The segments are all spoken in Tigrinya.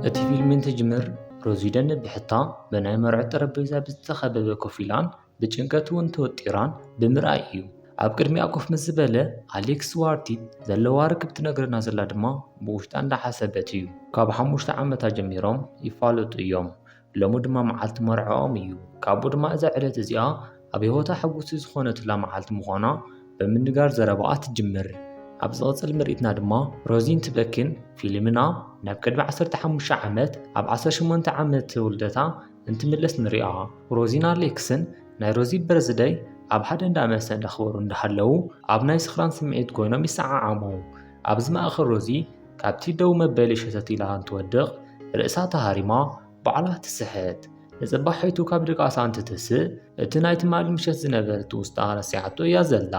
እቲ ፊልም እንትጅምር ሮዚደን ብሕታ ብናይ መርዑት ጠረጴዛ ብዝተኸበበ ኮፍ ኢላን ብጭንቀት እውን ተወጢራን ብምርኣይ እዩ። ኣብ ቅድሚኣ ኮፍ ምስ ዝበለ ኣሌክስ ዋርቲት ዘለዋ ርክብ ትነግረና ዘላ ድማ ብውሽጣ እንዳሓሰበት እዩ። ካብ ሓሙሽተ ዓመታ ጀሚሮም ይፋለጡ እዮም። ሎሚ ድማ መዓልቲ መርዕኦም እዩ። ካብኡ ድማ እዛ ዕለት እዚኣ ኣብ ህይወታ ሕጉስቲ ዝኾነትላ መዓልቲ ምዃና ብምንጋር ዘረባኣ ትጅምር። ኣብ ዝቕጽል ምርኢትና ድማ ሮዚን ትበኪን ፊልምና ናብ ቅድሚ 15 ዓመት ኣብ 18 ዓመት ውልደታ እንትምለስ ንሪኣ። ሮዚን ኣሌክስን ናይ ሮዚ ብርዝደይ ኣብ ሓደ እንዳ መስተ እንዳኽበሩ እንዳሃለዉ ኣብ ናይ ስኽራን ስምዒት ኮይኖም ይሰዓዓሙ። ኣብዚ ማእኸል ሮዚ ካብቲ ደው መበሊ ሸተት ኢላ እንትወድቕ ርእሳ ተሃሪማ ባዕላ ትስሕት። ንጽባሒቱ ካብ ድቃሳ እንትትስእ እቲ ናይ ትማሊ ምሸት ዝነበረ ትውስታ ረሲዓቶ እያ ዘላ።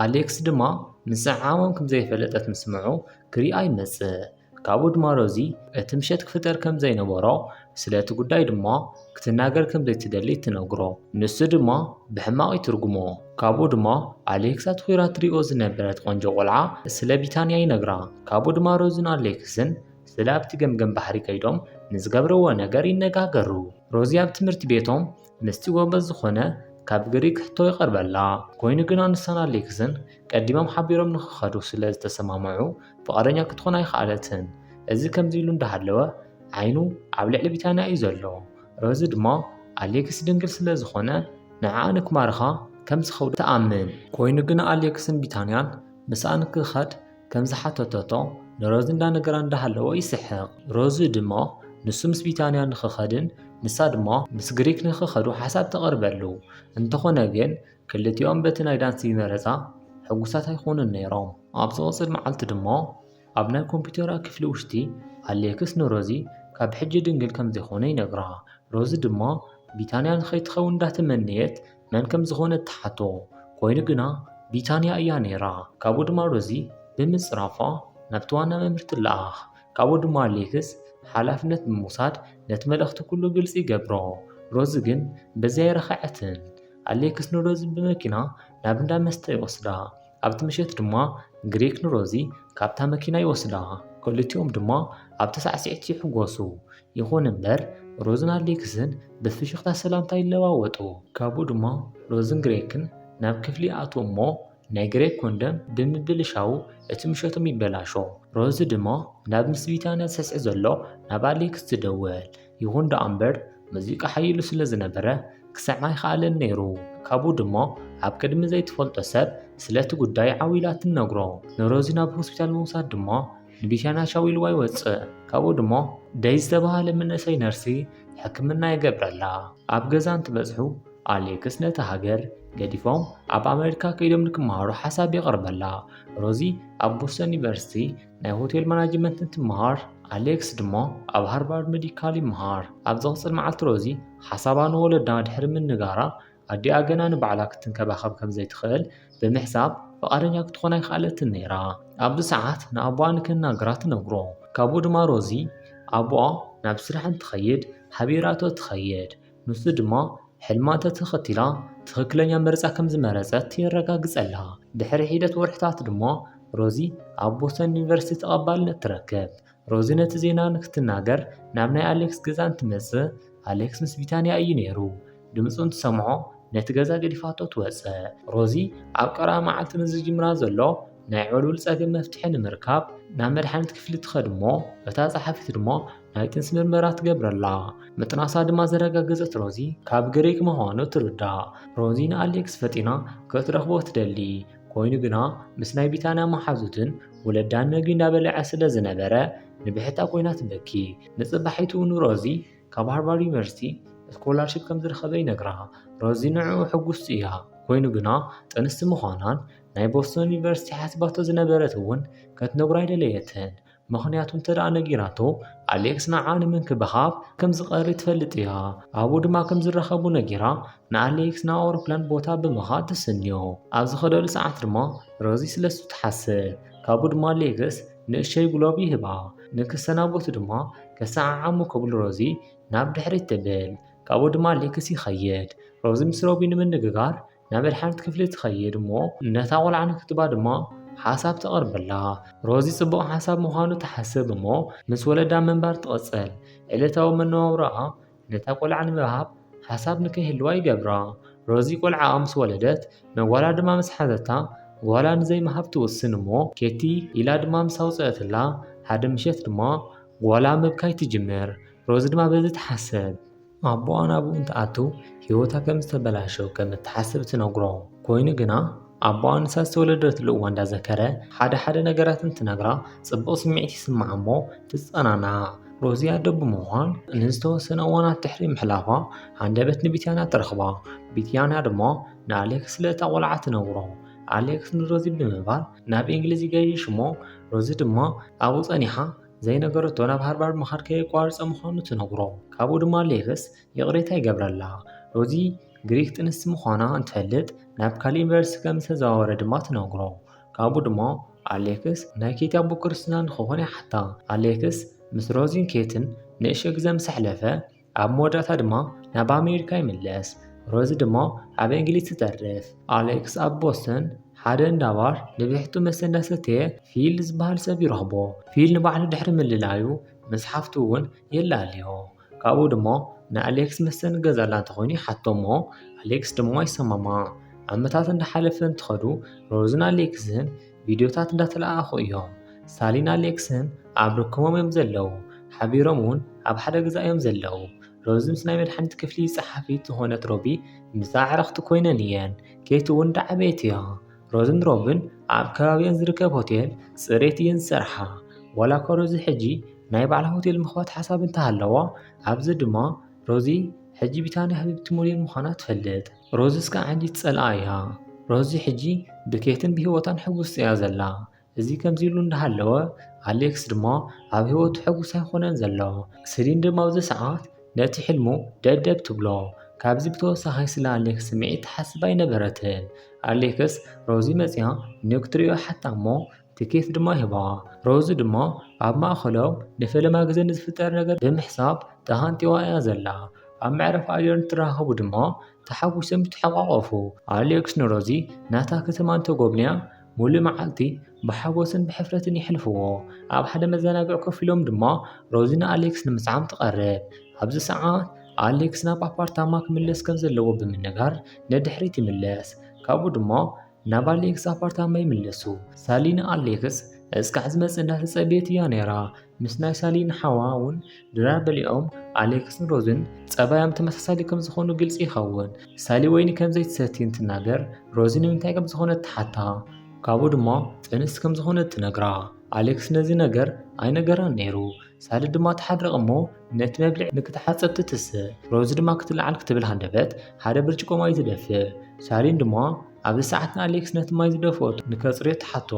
ኣሌክስ ድማ ምስ ዓማም ከም ዘይፈለጠት ምስምዑ ክሪኣ ይመጽእ። ካብኡ ድማ ሮዚ እቲ ምሸት ክፍጠር ከም ዘይነበሮ ስለቲ ጉዳይ ድማ ክትናገር ከም ዘይትደሊ ትነግሮ። ንሱ ድማ ብሕማቕ ይትርጉሞ። ካብኡ ድማ ኣሌክሳ ትኹራ ትሪኦ ዝነበረት ቆንጆ ቆልዓ ስለ ቢታንያ ይነግራ። ካብኡ ድማ ሮዝን ኣሌክስን ስለ ኣብቲ ገምገም ባሕሪ ከይዶም ንዝገብርዎ ነገር ይነጋገሩ። ሮዚ ኣብ ትምህርቲ ቤቶም ምስቲ ጎበዝ ዝኾነ ካብ ግሪክ ሕቶ ይቐርበላ። ኮይኑ ግና ንሳን ኣሌክስን ቀዲሞም ሓቢሮም ንኽኸዱ ስለ ዝተሰማምዑ ፍቓደኛ ክትኾን ኣይኸኣለትን። እዚ ከምዚ ኢሉ እንዳሃለወ ዓይኑ ኣብ ልዕሊ ቢታንያ እዩ ዘሎ። ሮዚ ድማ ኣሌክስ ድንግል ስለ ዝኾነ ንዓኣ ንክማርኻ ከም ዝኸብዳ ትኣምን። ኮይኑ ግና ኣሌክስን ቢታንያን ምስኣ ንክኸድ ከም ዝሓተተቶ ንሮዚ እንዳነገራ እንዳሃለወ ይስሕቕ። ሮዚ ድማ ንሱ ምስ ቢታንያ ንኽኸድን ንሳ ድማ ምስ ግሪክ ንኽኸዱ ሓሳብ ተቕርበሉ። እንተኾነ ግን ክልቲኦም በቲ ናይ ዳንሲ መረጻ ሕጉሳት ኣይኮኑን ነይሮም። ኣብ ዝቕጽል መዓልቲ ድማ ኣብ ናይ ኮምፒተራ ክፍሊ ውሽጢ ኣሌክስ ንሮዚ ካብ ሕጂ ድንግል ከም ዘይኮነ ይነግራ። ሮዚ ድማ ቢታንያ ንኸይትኸውን እንዳተመነየት መን ከም ዝኾነት ትሓቶ፣ ኮይኑ ግና ቢታንያ እያ ነይራ። ካብኡ ድማ ሮዚ ብምጽራፋ ናብቲ ዋና መምህር ትለኣኽ፣ ካብኡ ድማ ኣሌክስ ሓላፍነት ብምውሳድ ነቲ መልእኽቲ ኩሉ ግልጺ ይገብሮ። ሮዚ ግን በዚ ኣይረኸዐትን። ኣሌክስ ንሮዚ ብመኪና ናብ እንዳ መስተ ይወስዳ። ኣብቲ ምሸት ድማ ግሪክ ንሮዚ ካብታ መኪና ይወስዳ፣ ክልቲኦም ድማ ኣብቲ ሳዕስዒት ይሕጎሱ። ይኹን እምበር ሮዝን ኣሌክስን ብፍሽኽታ ሰላምታ ይለዋወጡ። ካብኡ ድማ ሮዝን ግሪክን ናብ ክፍሊ ይኣትዉ እሞ ናይ ግሪክ ኮንደም ብምብልሻዉ እቲ ምሸቶም ይበላሾ። ሮዚ ድማ ናብ ምስ ቢታንያ ዝሰስዐ ዘሎ ናብ ኣሌክስ ትደውል። ይኹን ደኣ'ምበር ሙዚቃ ሓዪሉ ስለ ዝነበረ ክስዕም ኣይክኣልን ነይሩ። ካብኡ ድማ ኣብ ቅድሚ ዘይትፈልጦ ሰብ ስለ'ቲ ጉዳይ ዓው ኢላ ትነግሮ። ንሮዚ ናብ ሆስፒታል ምውሳድ ድማ ንቢሻና ሻው ኢልዋ ይወጽእ። ካብኡ ድማ ደይዝ ዝተባህለ መንእሰይ ነርሲ ሕክምና የገብረላ። ኣብ ገዛ እንትበጽሑ ኣሌክስ ነታ ሃገር ገዲፎም ኣብ ኣመሪካ ከይዶም ንክመሃሩ ሓሳብ የቕርበላ። ሮዚ ኣብ ቦስተን ዩኒቨርሲቲ ናይ ሆቴል ማናጅመንት እንትመሃር ኣሌክስ ድማ ኣብ ሃርቫርድ ሜዲካል ይመሃር ኣብ ዘቕፅል መዓልቲ ሮዚ ሓሳባ ንወለዳ ድሕሪ ምንጋራ ኣዲኣ ገና ንባዕላ ክትንከባኸብ ከም ዘይትኽእል ብምሕሳብ ፍቓደኛ ክትኾን ኣይከኣለትን ነይራ። ኣብዚ ሰዓት ንኣቦኣ ንከናግራ ትነግሮ። ካብኡ ድማ ሮዚ ኣቦኣ ናብ ስራሕ እንትኸይድ ሓቢራቶ ትኸይድ። ንሱ ድማ ሕልማታ ተኸቲላ ትኽክለኛ ምርጫ ከም ዝመረጸት የረጋግጸላ። ድሕሪ ሒደት ወርሕታት ድማ ሮዚ ኣብ ቦስተን ዩኒቨርሲቲ ተቐባልነት ትረክብ። ሮዚ ነቲ ዜና ንክትናገር ናብ ናይ ኣሌክስ ገዛ እንትመጽእ፣ ኣሌክስ ምስ ቢታንያ እዩ ነይሩ። ድምጹ እንትሰምዖ ነቲ ገዛ ገዲፋቶ ትወጽእ። ሮዚ ኣብ ቀረባ መዓልቲ ንዝጅምራ ዘሎ ናይ ዕሉል ጸገም መፍትሒ ንምርካብ ናብ መድሓኒት ክፍሊ ትኸድ'ሞ እታ ጸሓፊት ድማ ናይ ጥንሲ ምርመራ ትገብረላ ምጥናሳ ድማ ዘረጋገጸት ሮዚ ካብ ግሪክ ምዃኑ ትርዳእ። ሮዚ ንኣሌክስ ፈጢና ክትረኽቦ ትደሊ ኮይኑ ግና ምስ ናይ ቢታንያ መሓዙትን ወለዳን መግቢ እንዳበለዐ ስለ ዝነበረ ንብሕታ ኮይና ትበኪ። ንጽባሒቱ ንሮዚ ካብ ሃርቫርድ ዩኒቨርሲቲ ስኮላርሺፕ ከም ዝረኸበ ይነግራ። ሮዚ ንዕኡ ሕጉስቲ እያ። ኮይኑ ግና ጥንስቲ ምዃናን ናይ ቦስቶን ዩኒቨርሲቲ ሓሲባቶ ዝነበረት እውን ከትነግሮ ኣይደለየትን። ምኽንያቱ እንተደኣ ነጊራቶ ኣሌክስ ንዓ ንምንክብኻብ ከም ዝቐሪ ትፈልጥ እያ። ኣብኡ ድማ ከም ዝራኸቡ ነጊራ ንኣሌክስ ናብ ኣውሮፕላን ቦታ ብምኻድ ትስንዮ። ኣብ ዝኸደሉ ሰዓት ድማ ሮዚ ስለሱ ትሓስብ። ካብኡ ድማ ኣሌክስ ንእሸይ ግሎብ ይህባ። ንክሰናበቱ ድማ ከሰዓዓሙ ክብሉ ሮዚ ናብ ድሕሪት ትብል። ካብኡ ድማ ኣሌክስ ይኸይድ። ሮዚ ምስ ሮቢ ንምንግጋር ናብ መድሓኒት ክፍሊ ትኸይድ እሞ ነታ ቆልዓ ንክትባ ድማ ሓሳብ ተቕርበላ። ሮዚ ጽቡቕ ሓሳብ ምዃኑ ትሓስብ እሞ ምስ ወለዳ ምንባር ትቕጽል። ዕለታዊ መነባብሮኣ ነታ ቆልዓ ንምሃብ ሓሳብ ንከይህልዋ ይገብራ። ሮዚ ቆልዓኣ ምስ ወለደት ንጓላ ድማ ምስ ሓዘታ ጓላ ንዘይምሃብ ትውስን እሞ ኬቲ ኢላ ድማ ምስ ኣውጽኣትላ ሓደ ምሸት ድማ ጓላ ምብካይ ትጅምር። ሮዚ ድማ በዚ ትሓስብ። ኣቦኣ ናብኡ እንትኣቱ ህይወታ ከም ዝተበላሸው ከም እትሓስብ ትነግሮ። ኮይኑ ግና ኣቦኣ ንሳ ዝተወለደትሉ እዋን እንዳዘከረ ሓደ ሓደ ነገራት እንትነግራ ጽቡቕ ስምዒት ይስምዓ እሞ ትጸናናዕ። ሮዚ ኣደ ብምዃን ንዝተወሰነ እዋናት ድሕሪ ምሕላፋ ሃንደበት ንቢትያና ትረኽባ። ቢትያና ድማ ንኣሌክስ ስለ እታ ቆልዓ ትነግሮ። ኣሌክስ ንሮዚ ብምባል ናብ እንግሊዝ ይገይሽ እሞ ሮዚ ድማ ኣብኡ ጸኒሓ ዘይነገረቶ ናብ ሃርቫርድ ምኻድ ከየቋርጸ ምዃኑ ትነግሮ። ካብኡ ድማ ሌክስ ይቕሬታ ይገብረላ። ሮዚ ግሪክ ጥንስቲ ምዃና እንትፈልጥ ናብ ካልእ ዩኒቨርሲቲ ከም ዝተዘዋወረ ድማ ትነግሮ። ካብኡ ድማ ኣሌክስ ናይ ኬቲ ኣቦ ክርስትና ንክኾን ይሓታ። ኣሌክስ ምስ ሮዚን ኬትን ንእሽቶ ግዜ ምስ ኣሕለፈ ኣብ መወዳእታ ድማ ናብ ኣሜሪካ ይምለስ። ሮዚ ድማ ኣብ እንግሊዝ ትተርፍ። ኣሌክስ ኣብ ቦስተን ሓደ እንዳባር ንብሕቱ መስተ እንዳሰተየ ፊል ዝበሃል ሰብ ይረኽቦ ፊል ንባዕሉ ድሕሪ ምልላዩ ምስ ሓፍቱ እውን የላልዮ ካብኡ ድማ ንኣሌክስ መስተ ንገዛላ እንተኾይኑ ይሓቶ እሞ ኣሌክስ ድማ ይሰማማ ዓመታት እንዳሓለፈ እንትኸዱ ሮዝን ኣሌክስን ቪድዮታት እንዳተለኣኣኹ እዮም። ሳሊን ኣሌክስን ኣብ ርክቦም እዮም ዘለዉ። ሓቢሮም እውን ኣብ ሓደ ገዛ እዮም ዘለዉ። ሮዚ ምስ ናይ መድሓኒት ክፍሊ ጸሓፊት ዝኾነት ሮቢ ምስ ኣዕርኽቲ ኮይነን እየን። ኬት እውን እንዳዓበየት እያ። ሮዝን ሮብን ኣብ ከባቢኤን ዝርከብ ሆቴል ጽሬት እየን ዝሰርሓ። ዋላ እኳ ሮዚ ሕጂ ናይ ባዕላ ሆቴል ምኽፋት ሓሳብ እንተሃለዋ ኣብዚ ድማ ሮዚ ሕጂ ቢታንያ ህብብቲ ሞዴል ምዃና ትፈልጥ። ሮዚ እስካዕ ሕጂ ትጸልኣ እያ ሮዚ ሕጂ ብኬትን ብሂወታን ሕጉስቲ እያ ዘላ እዚ ከምዚ ኢሉ እንዳሃለወ ኣሌክስ ድማ ኣብ ሂወቱ ሕጉስ ኣይኮነን ዘሎ ስዲን ድማ ኣብዚ ሰዓት ነቲ ሕልሙ ደደብ ትብሎ ካብዚ ብተወሳኺ ስለ ኣሌክስ ስምዒት ትሓስብ ኣይነበረትን ኣሌክስ ሮዚ መጽያ ንክትሪኦ ሓታ እሞ ትኬት ድማ ይህባ። ሮዚ ድማ ኣብ ማእከሎም ንፈለማ ግዜ ንዝፍጠር ነገር ብምሕሳብ ተሃንጥዋ እያ ዘላ። ኣብ መዕረፊ ኣየር እንትራኸቡ ድማ ተሓጒሶም ይተሓቛቖፉ። ኣሌክስ ንሮዚ ናታ ከተማ እንተጎብንያ ሙሉእ መዓልቲ ብሓጎስን ብሕፍረትን የሕልፍዎ። ኣብ ሓደ መዘናግዒ ኮፍ ኢሎም ድማ ሮዚ ንኣሌክስ ንምስዓም ትቐርብ። ኣብዚ ሰዓት ኣሌክስ ናብ ኣፓርታማ ክምለስ ከም ዘለዎ ብምንጋር ንድሕሪት ይምለስ። ካብኡ ድማ ናብ ኣሌክስ ኣፓርታማ ይምለሱ። ሳሊ ንኣሌክስ እስካዕ ዝመጽእ እንዳተጸበየት እያ ነይራ። ምስ ናይ ሳሊን ሓዋ እውን ድራር በሊዖም ኣሌክስን ሮዝን ጸባዮም ተመሳሳሊ ከም ዝኾኑ ግልጺ ይኸውን። ሳሊ ወይኒ ከም ዘይትሰቲ እንትናገር ሮዚ ንምንታይ ከም ዝኾነት ትሓታ። ካብኡ ድማ ጥንስቲ ከም ዝኾነት ትነግራ። ኣሌክስ ነዚ ነገር ኣይነገራን ነይሩ። ሳሊ ድማ ትሓድረቕ እሞ ነቲ መብልዕ ንክትሓጸብ ትትስእ። ሮዚ ድማ ክትለዓል ክትብል ሃንደበት ሓደ ብርጭቆ ማይ ትደፍእ። ሳሊን ድማ ኣብዚ ሰዓት ንኣሌክስ ነቲ ማይ ዝደፍኦቶ ንከጽርዮ ትሓቶ።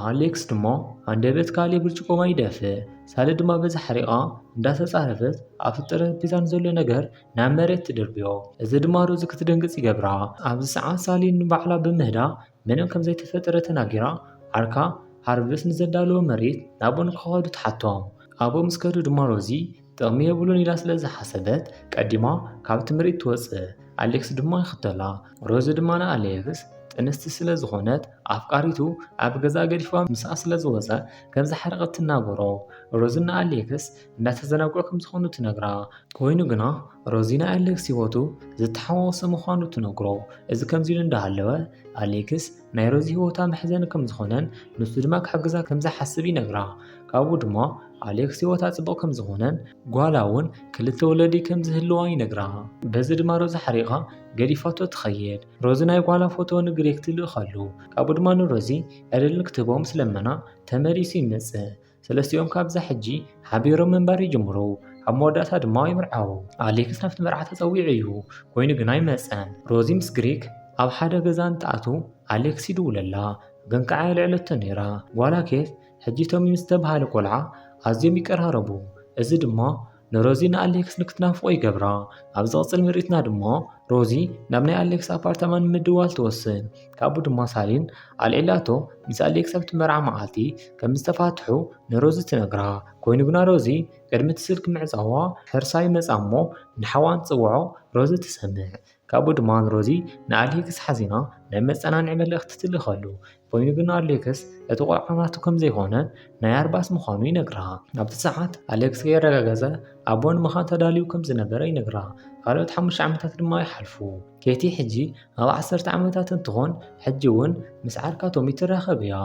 ኣሌክስ ድማ ሃንደበት ካልእ ብርጭቆ ማይ ይደፍእ። ሳሊ ድማ በዚ ሓሪቓ እንዳተጻረፈት ኣብቲ ጠረጴዛ ንዘሎ ነገር ናብ መሬት ትድርብዮ። እዚ ድማ ሮዚ ክትድንግጽ ይገብራ። ኣብዚ ሰዓት ሳሊ ንባዕላ ብምህዳ ምንም ከም ዘይተፈጥረ ተናጊራ ዓርካ ሃርቨስት ንዘዳለዎ መሬት ናብኡ ንክኸዱ ትሓቶም። ኣብኡ ምስ ከዱ ድማ ሮዚ ጥቕሚ የብሉን ኢላ ስለ ዝሓሰበት ቀዲማ ካብቲ ምርኢት ትወጽእ፣ ኣሌክስ ድማ ይኽተላ። ሮዚ ድማ ንኣሌክስ ጥንስቲ ስለ ዝኾነት ኣፍቃሪቱ ኣብ ገዛእ ገዲፍዋ ምስኣ ስለ ዝወጸ ከም ዝሓረቐት ትናገሮ። ሮዚ ንኣሌክስ እንዳተዘናግዑ ከምዝኾኑ ትነግራ። ኮይኑ ግና ሮዚና ኣሌክስ ህይወቱ ዝተሓዋወሰ ምዃኑ ትነግሮ። እዚ ከምዚ ኢሉ እንዳሃለወ ኣሌክስ ናይ ሮዚ ህይወታ መሕዘኒ ከምዝኾነን ንሱ ድማ ክሕግዛ ከምዝሓስብ ይነግራ። ካብኡ ድማ ኣሌክስ ህይወታ ፅቡቕ ከምዝኾነን ጓላ እውን ክልተ ወለዲ ከምዝህልዋ ይነግራ። በዚ ድማ ሮዚ ሓሪቓ ገዲፋቶ ትኸይድ። ሮዚ ናይ ጓላ ፎቶ ንግሬግ ትልእኸሉ። ካብኡ ድማ ንሮዚ ዕድል ንክትህቦ ምስ ለመና ተመሊሱ ይመፅእ። ሰለስቲኦም ካብዛ ሕጂ ሓቢሮም ምንባር ይጅምሩ፣ ኣብ መወዳእታ ድማ ይምርዓዉ። ኣሌክስ ናብቲ መርዓ ተጸዊዑ እዩ፣ ኰይኑ ግና ኣይመጸን። ሮዚ ምስ ግሪክ ኣብ ሓደ ገዛ እንትኣትዉ ኣሌክስ ይድውለላ፣ ግን ከኣ ኣየልዕለቶን ነይራ። ጓላ ኬት ሕጂ ቶሚ ምስ ዝተበሃለ ቈልዓ ኣዝዮም ይቀራረቡ፣ እዚ ድማ ንሮዚ ንኣሌክስ ንክትናፍቖ ይገብራ። ኣብ ዝቕጽል ምርኢትና ድማ ሮዚ ናብ ናይ ኣሌክስ ኣፓርታማ ንምድዋል ትወስን። ካብኡ ድማ ሳሊን ኣልዒላቶ ምስ ኣሌክስ ኣብቲ መርዓ መዓልቲ ከም ዝተፋትሑ ንሮዚ ትነግራ። ኮይኑ ግና ሮዚ ቅድሚ እቲ ስልኪ ምዕጻዋ ሕርሳ ይመጽኣ እሞ ንሓዋ እንትጽውዖ ሮዚ ትሰምዕ። ካብኡ ድማ ንሮዚ ንኣሌክስ ሓዚና ናይ መጸናንዒ መልእኽቲ ትልእኸሉ። ኮይኑ ግን ኣሌክስ እቲ ቆልዓ ናቱ ከም ዘይኮነ ናይ ኣርባስ ምዃኑ ይነግራ። ኣብቲ ሰዓት ኣሌክስ ከየረጋገጸ ኣቦ ንምዃን ተዳልዩ ከም ዝነበረ ይነግራ። ካልኦት ሓሙሽተ ዓመታት ድማ ይሓልፉ። ኬቲ ሕጂ ኣብ ዓሰርተ ዓመታት እንትኾን ሕጂ እውን ምስ ዓርካ ቶሚ ትራኸብ እያ።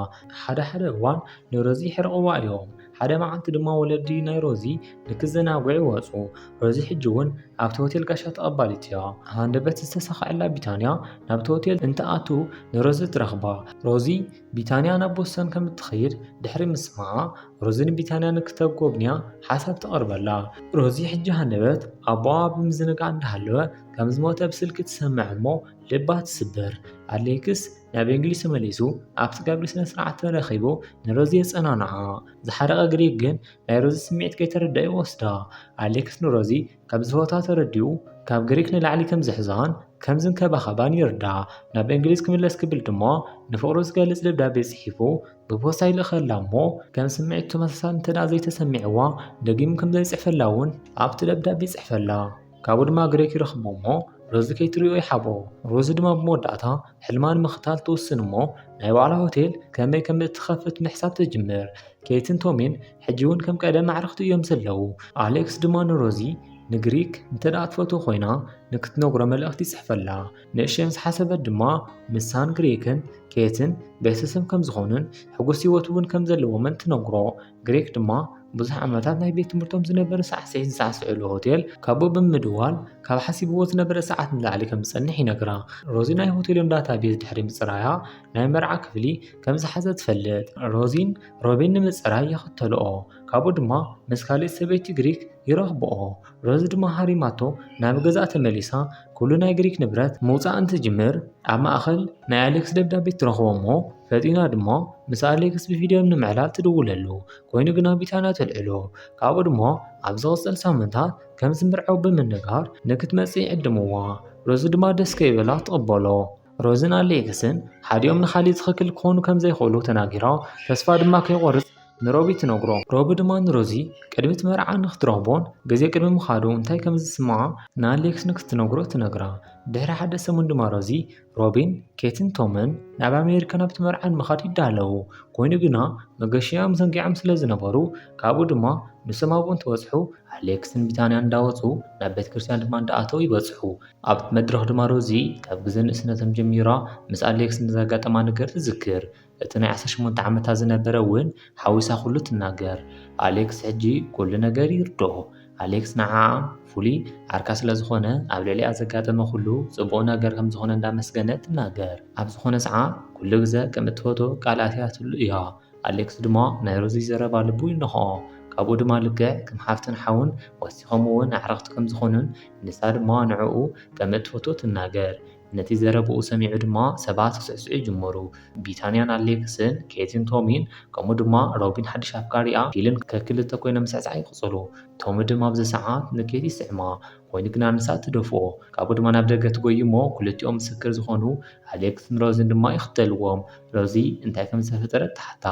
ሓደ ሓደ እዋን ንሮዚ ይሕርቕዋ እዮም። ሓደ መዓልቲ ድማ ወለዲ ናይ ሮዚ ንክዘናግዑ ይወፁ። ሮዚ ሕጂ እውን ኣብቲ ሆቴል ጋሻ ተቐባሊት እያ። ኣብ ሃንደበት ዝተሳኸዐላ ቢታንያ ናብቲ ሆቴል እንትኣቱ ንሮዚ ትረኽባ። ሮዚ ቢታንያ ናብ ቦስተን ከም እትኸይድ ድሕሪ ምስማዓ ሮዚ ንቢታንያ ንክተጎብንያ ሓሳብ ተቕርበላ። ሮዚ ሕጂ ሃንደበት ኣቦኣ ብምዝንጋዕ እንዳሃለወ ከም ዝሞተ ብስልኪ ትሰምዕ እሞ ልባ ትስብር! ኣሌክስ ናብ እንግሊዝ ተመሊሱ ኣብ ስጋብ ስነ-ስርዓት ተረኺቡ ንሮዚ የጸናንዓ። ዝሓረቐ ግሪክ ግን ናይ ሮዚ ስምዒት ከይተረድኣ ይወስዳ። ኣሌክስ ንሮዚ ካብ ዝፈትዋ ተረዲኡ ካብ ግሪክ ንላዕሊ ከም ዝሕዛን ከም ዝንከባኸባን ይርዳእ። ናብ እንግሊዝ ክምለስ ክብል ድማ ንፍቕሩ ዝገልጽ ደብዳቤ ጽሒፉ ብፖስታ ይልእኸላ እሞ ከም ስምዒቱ ተመሳሳሊ እንተደኣ ዘይተሰሚዕዋ ደጊሙ ከም ዘይጽሕፈላ እውን ኣብቲ ደብዳቤ ይጽሕፈላ። ካብኡ ድማ ግሬክ ይረኽቦ እሞ ሮዚ ከይትሪኦ ይሓቦ። ሮዚ ድማ ብመወዳእታ ሕልማ ንምኽታል ትውስን እሞ ናይ ባዕላ ሆቴል ከመይ ከም እትኸፍት ምሕሳብ ትጅምር። ኬትን ቶሚን ሕጂ እውን ከም ቀደም ኣዕርኽቲ እዮም ዘለዉ። ኣሌክስ ድማ ንሮዚ ንግሪክ እንተደኣ ትፈትዎ ኮይና ንክትነግሮ መልእኽቲ ይጽሕፈላ። ንእሽተይ ምስ ሓሰበት ድማ ንሳን ግሪክን ኬትን ቤተሰብ ከም ዝኾኑን ሕጉስ ህይወት እውን ከም ዘለዎምን ትነግሮ። ግሪኽ ድማ ብዙሕ ዓመታት ናይ ቤት ትምህርቶም ዝነበረ ሳዕስዒት ዝሳዕስዕሉ ሆቴል ካብኡ ብምድዋል ካብ ሓሲብዎ ዝነበረ ሰዓት ንላዕሊ ከም ዝጸንሕ ይነግራ። ሮዚ ናይ ሆቴሎም ዳታቤዝ ድሕሪ ምጽራያ ናይ መርዓ ክፍሊ ከም ዝሓዘት ትፈልጥ። ሮዚን ሮቢን ንምጽራይ ይኽተልኦ፣ ካብኡ ድማ ምስ ካልእ ሰበይቲ ግሪኽ ይረኽብኦ። ሮዝ ድማ ሃሪማቶ ናብ ገዛኣ ተመሊሳ ኩሉ ናይ ግሪክ ንብረት ምውፃእ እንትጅምር ኣብ ማእኸል ናይ ኣሌክስ ደብዳቤ ትረኽቦ እሞ ፈጢና ድማ ምስ ኣሌክስ ብቪድዮ ንምዕላል ትድውለሉ ኮይኑ ግና ቢታንያ ተልዕሎ ካብኡ ድማ ኣብ ዝቕፅል ሳምንታት ከም ዝምርዓው ብምንጋር ንክትመፅእ ይዕድምዋ ሮዝ ድማ ደስ ከይበላ ትቕበሎ ሮዝን ኣሌክስን ሓዲኦም ንካሊእ ዝኽክል ክኾኑ ከም ዘይኽእሉ ተናጊራ ተስፋ ድማ ከይቆርፅ ንሮቢ ትነግሮ። ሮቢ ድማ ንሮዚ ቅድሚ እቲ መርዓ ንኽትረኽቦን ግዜ ቅድሚ ምኻዱ እንታይ ከም ዝስምዓ ንኣሌክስ ንክትነግሮ ትነግራ። ድሕሪ ሓደ ሰሙን ድማ ሮዚ፣ ሮቢን፣ ኬትን ቶምን ናብ ኣሜሪካ ናብቲ መርዓ ንምኻድ ይዳለዉ። ኮይኑ ግና መገሽያኦም ዘንጊዖም ስለ ዝነበሩ ካብኡ ድማ ንሶም ኣብኡ እንትበጽሑ፣ ኣሌክስን ቢታንያን እንዳወጹ ናብ ቤተ ክርስትያን ድማ እንዳኣተዉ ይበጽሑ። ኣብቲ መድረኽ ድማ ሮዚ ካብ ግዜ ንእስነቶም ጀሚራ ምስ ኣሌክስ ንዘጋጠማ ነገር ትዝክር። እቲ ናይ ዓሰርተ ሸሞንተ ዓመታ ዝነበረ ውን ሓዊሳ ኩሉ ትናገር ኣሌክስ ሕጂ ኩሉ ነገር ይርድኦ ኣሌክስ ንዓኣ ፍሉይ ዓርካ ስለ ዝኮነ ኣብ ልዕሊኣ ዘጋጠመ ኩሉ ጽቡቅ ነገር ከም ዝኮነ እንዳ ኣመስገነት ትናገር ኣብ ዝኮነ ሰዓት ኩሉ ግዘ ከም እትፈትዎ ቃል ኣትያትሉ እያ ኣሌክስ ድማ ናይ ሮዚ ዘረባ ልቡ ይነክኦ ካብኡ ድማ ልክዕ ከም ሓፍትን ሓውን ወሲኮም ውን ኣዕርክቲ ከም ዝኮኑን ንሳ ድማ ንዕኡ ከም እትፈትዎ ትናገር ነቲ ዘረባኡ ሰሚዑ ድማ ሰባት ክስዕስዑ ጀመሩ። ቢታንያን ኣሌክስን፣ ኬቲን ቶሚን፣ ከምኡ ድማ ሮቢን ሓድሽ ኣፍቃሪኣ ፊልን ከክልተ ኰይኖም ምስዕሳዕ ይቕጽሉ። ቶሚ ድማ ኣብዚ ሰዓት ንኬቲ ይስዕማ፣ ኰይኑ ግና ንሳ ትደፍኦ። ካብኡ ድማ ናብ ደገ ትጐዪ እሞ ክልቲኦም ምስክር ዝዀኑ ኣሌክስን ሮዚን ድማ ይኽተልዎም። ሮዚ እንታይ ከም ዝተፈጠረ ትሓታ።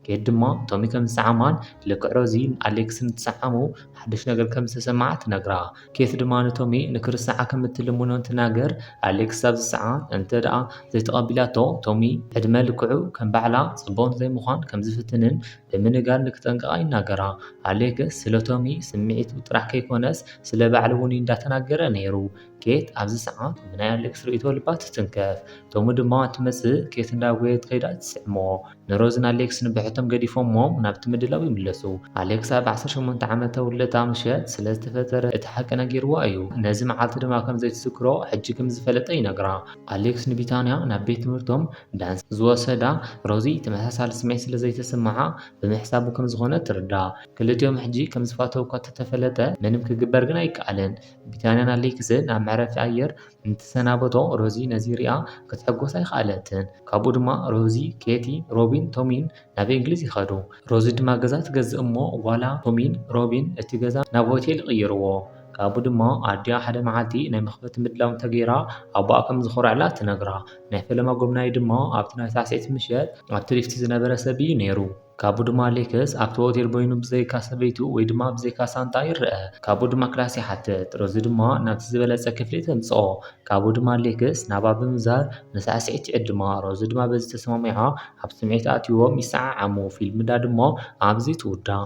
ኬት ድማ ቶሚ ከም ዝሰዓማን ልክዕ ሮዚን ኣሌክስን እንትሰዓሙ ሓድሽ ነገር ከም ዝተሰምዓ ትነግራ። ኬት ድማ ንቶሚ ንክርስዓ ከም እትልምኖን ትናገር። ኣሌክስ ኣብዚ ሰዓት እንተ ደኣ ዘይተቐቢላቶ ቶሚ ዕድመ ልክዑ ከም ባዕላ ጽቡቕ ዘይምዃን ከም ዝፍትንን ብምንጋር ንክጠንቀቓ ይናገራ። ኣሌክስ ስለ ቶሚ ስምዒቱ ጥራሕ ከይኮነስ ስለ ባዕሉ እውን እዩ እንዳተናገረ ነይሩ። ኬት ኣብዚ ሰዓት ብናይ ኣሌክስ ርእይቶ ልባ ትትንከፍ። ቶሚ ድማ እንትመጽእ ኬት እንዳጎየት ከይዳ ትስዕሞ። ንሮዝን ኣሌክስን ብሕቶም ገዲፎሞም ናብቲ ምድላው ይምለሱ። ኣሌክስ ኣብ ዓሰርተ ሸሞንተ ዓመተ ውልደታ ምሸት ስለ ዝተፈጠረ እቲ ሓቂ ነጊርዋ እዩ፣ ነዚ መዓልቲ ድማ ከም ዘይትዝክሮ ሕጂ ከም ዝፈለጠ ይነግራ። ኣሌክስ ንቢታንያ ናብ ቤት ትምህርቶም ዳንስ ዝወሰዳ ሮዚ ተመሳሳሊ ስምዒት ስለ ዘይተሰምዓ ብምሕሳቡ ከም ዝኾነ ትርዳእ። ክልቲኦም ሕጂ ከም ዝፋተዉ እኳ እንተተፈለጠ ምንም ክግበር ግን ኣይከኣልን። ቢታንያን ኣሌክስን ኣብ መዕረፊ ኣየር። እንትሰናበቶ ሮዚ ነዚ ሪኣ ክትሕጎስ ኣይከኣለትን። ካብኡ ድማ ሮዚ፣ ኬቲ፣ ሮቢን፣ ቶሚን ናብ እንግሊዝ ይኸዱ። ሮዚ ድማ ገዛ ትገዝእ እሞ ጓላ፣ ቶሚን፣ ሮቢን እቲ ገዛ ናብ ሆቴል ይቕይርዎ። ካብኡ ድማ ኣዲኣ ሓደ መዓልቲ ናይ መኽፈቲ ምድላው እንተገይራ ኣቦኣ ከም ዝኾርዐላ ትነግራ። ናይ ፈለማ ጎብናይ ድማ ኣብቲ ናይ ሳዕሲዒት ምሸት ኣብቲ ሊፍቲ ዝነበረ ሰብ'ዩ ነይሩ። ካቡ ድማ ሌክስ ኣብቲ ሆቴል በይኑ ብዘይካ ሰበይቱ ወይ ድማ ብዘይካ ሳንጣ ይረኣ። ካቡ ድማ ክላስ ይሓትት፣ ሮዚ ድማ ናብቲ ዝበለጸ ክፍሊ ተምጽኦ። ካቡ ድማ ሌክስ ናብኣ ብምዛር ንሳዕስዒት ይዕድማ፣ ሮዚ ድማ በዚ ተሰማሚዓ ኣብ ስምዒት ኣእትይዎም ይሰዓዓሙ፣ ፊልምዳ ድማ ኣብዚ ትውዳእ።